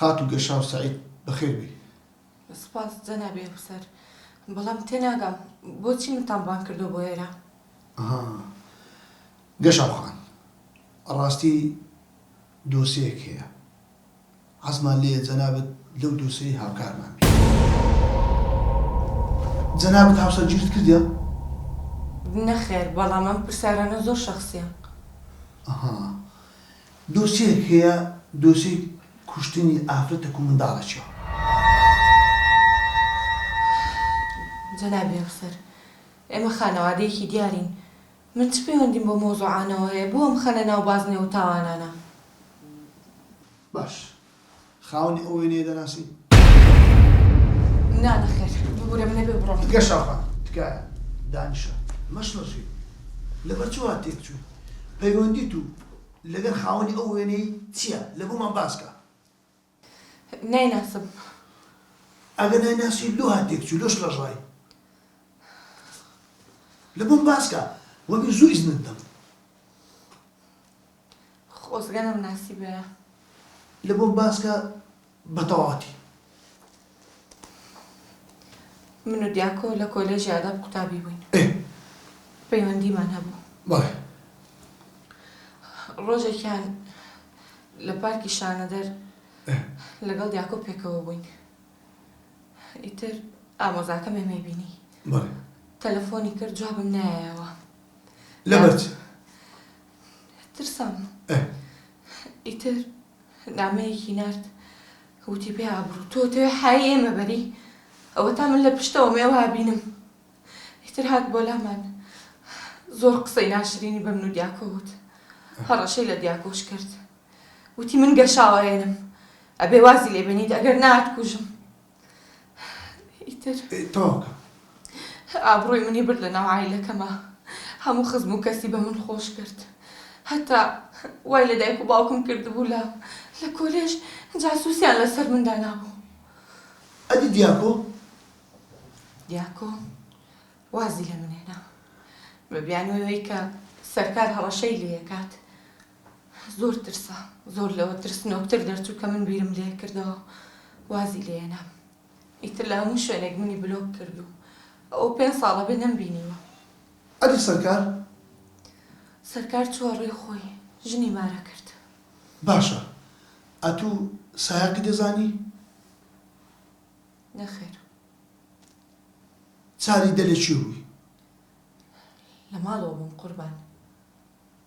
خاتوو گەشاو سەعید بەخێر بێی. سوپاس جەنابی ئەفسەر. بەڵام تێناگەم بۆچی منتان ڕوانکردووە بۆ ئێرە؟ ئەها. گەشاو خان، ڕاستی دۆسێیەک هەیە. حەزمان لێیە جەنابت لەو دۆسێی هاوکارمان بی. جەنابت هاوسەرگیریت کردیە؟ نەخێر، بەڵام ئەم پرسیارانە زۆر شەخسیە. ئەها. دۆسیەیەک هەیە دۆسیەی کوشتنی ئافرەتەک و منداڵەکیە. جەنابی ئەفسەر ئێمە خانەوادەیەکی دیارین من چ پەیوەندیم بەو مەوزوعانەوە هەیە بۆ ئەمخەنە ناو بازنەوە تاوانانە. باش خاوەنی ئەو وێنەیە دەناسی؟ نا نەخێر ببورە من نەبێ بڕۆم تکە شاخە تکایە دانیشە مەشڵەژی لەبەر چی وا تێک چووی پەیوەندی تو لەگەر خاوەنی ئەو وێنەی چییە لە بۆمان باسکە نایناسم ئەگە نایناسی لۆ ها تێک چوو لۆ شڵەژای لە بۆم باسکە وەبی زوو ئیزنت دەم خۆزگە نەمناسیبایە. لە بۆم باس کە بە تەواوەتی. من و دیاکۆ لە کۆلێژی ئاداب قوتابی بووین. ئێ. پەیوەندیمان هەبوو. بەڵێ. ڕۆژێکیان لە پارکی شانەدەر ئێ. لەگەڵ دیاکۆ پێکەوە بووین. ئیتر ئامۆزاکەم ئێمەی بینی. بەڵێ. تەلەفۆنی کرد جوابم نایایەوە. لەبەر چ؟ ترسام ئیتر نامەیەکی نارد وتی پێ ئابرو تۆ تەوێ حای ئێمە بەری ئەوەتا من لە پشتەوە مێوە بینم ئیتر هات بۆ لامان زۆر قسەی ناشرینی بە من و دیاکۆ وت هەڕەشەی لە دیاکۆش کرد وتی من گەشاوەێنم ئەبێ وازی لێبێنیت ئەگەر نات کوژم ئیتر تەواو کە. ئابڕووی منی برد لە ناو عایلەکەما هەموو خزم و کەسی بە من خۆش کرد هەتا وای لە دایک و باوکم کردبوو لە لە کۆلێژ جاسووسیان لە سەر من دانابوو. ئەدی دیاکۆ؟ دیاکۆ وازی لە من هێنا. من بیانووی ئەوەی کە سەرکار هەڕەشەی لێ ئەکات زۆر ترسا زۆر لەوە ترسنۆکتر دەرچوو کە من بیرم لێ کردەوە وازی لێ هێنام ئیتر لە هەموو شوێنێک منی بلۆک کرد و ئەوە پێنج ساڵە بێ نەمبینیوە. ئەدی سەرکار؟ سەرکار چووە ڕێی خۆی ژنی مارە کرد. باشە ئەتوو سایەقی دەزانی؟ نەخێر. چاری دە لە کوێ بووی؟ لە ماڵەوە بووم قوربان.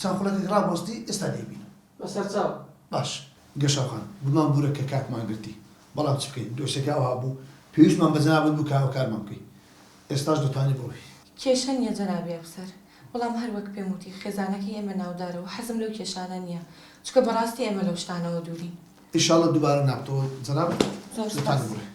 چەند خولەکێک ڕابوەستی ئێستا دەیبینم. بە سەرچاو. باش گەشەوخان، گومان بورە کە کاتمان گرتی، بەڵام چ بکەین دۆسیەکە ئەوها بوو، پێویستمان بە جەنابت بوو کە هاوکارمان بکەی. ئێستاش دەتوانی بڕۆی. کێشە نییە جەنابی ئەفسەر، بەڵام هەر وەک پێم وتی خێزانەکەی ئێمە ناودارە و حەزم لەو کێشانە نییە، چونکە بەڕاستی ئێمە لەو شتانەوە دوورین. ئیشاڵڵا دووبارە نابتەوە جەنابت. زۆر سوپاس. دەتوانی بڕۆی.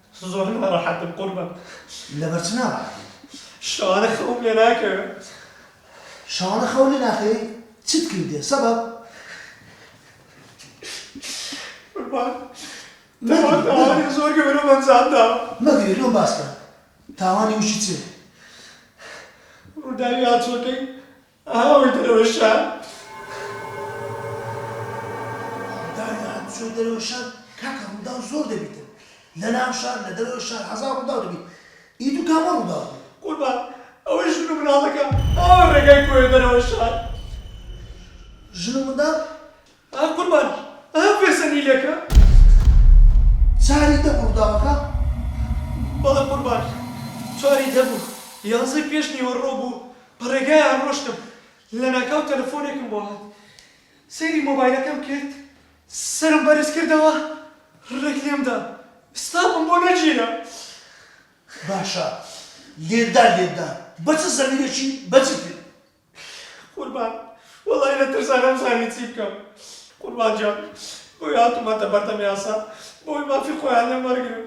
زۆر ناڕەحەتم قوربان. لەبەر چ ناڕەحەتی؟ شەوانە خەوم لێ ناکەوێ. شەوانە خەو لێ ناکەوێ؟ چت کردیە؟ سەبەب؟ قوربان تاوان تاوانێ زۆر گەورەم ئەنجام داوە. مەگری لۆم باسکە تاوانی وشی چێ؟ ڕووداوی هاتووەکەی ئەها ئەوەی دەرەوەی شار. ڕووداوی هاتووچۆی دەرەوەی شار، کاکە ڕووداو زۆر دەبیتن، لە ناو شار، لە دەرەوەی شار، هەزار ڕووداو دەبیت، ئی دوو کامە ڕووداو بوو؟ قوربان ئەوەی ژن و مناڵەکە، ئەوە ڕێگای کۆیە دەرەوەی شار. ژن و منداڵ ئەها قوربانی ئەها پێسە نیلەکە. چاریتە بۆ ڕوداوەکە؟ بەڵێ قوربانی چاریتە بوو یانزەی پێش نیوەڕۆ بوو بە ڕێگایان ڕۆشتم لەناکاو تەلەفۆنێکم بۆ هات سەیری مۆبایلەکەم کرد سەرم بەرز کردەوە ڕێک لێم دا ستافم بۆ نەگیرا. باشە لێت دا لێت دا بە چ زەمیرێکی بە جدی؟ قوربان وەڵایی لە ترسا نەمزانی چی بکەم قوربان گیان بۆی هاتومەتە بەردەم یاسا بۆی مافی خۆیان لێم وەرگرن.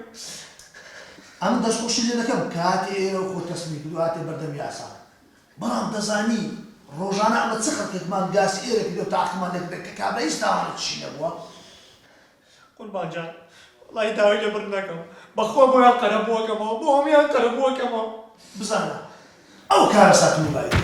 ئەمن دەستخۆشی لێ دەکەم کە هاتیە ئێرە و خۆت تەسلیم کرد و هاتیە بەردەم یاسا بەڵام دەزانی ڕۆژانە ئەمە چ خەلکێکمان گاسی ئێرە کردوە تاقیمان لێ کردە کە کابرا هیچ تاوانێکیشی نەبوە قوربان جان وەڵای داوای لێ بڕ نەکەم بەخوا بۆیان قەرە بوەکەمەوە بۆ هەموان قەرە بوەکەمەوە بزانە ئەو کارەسات مولایەتی.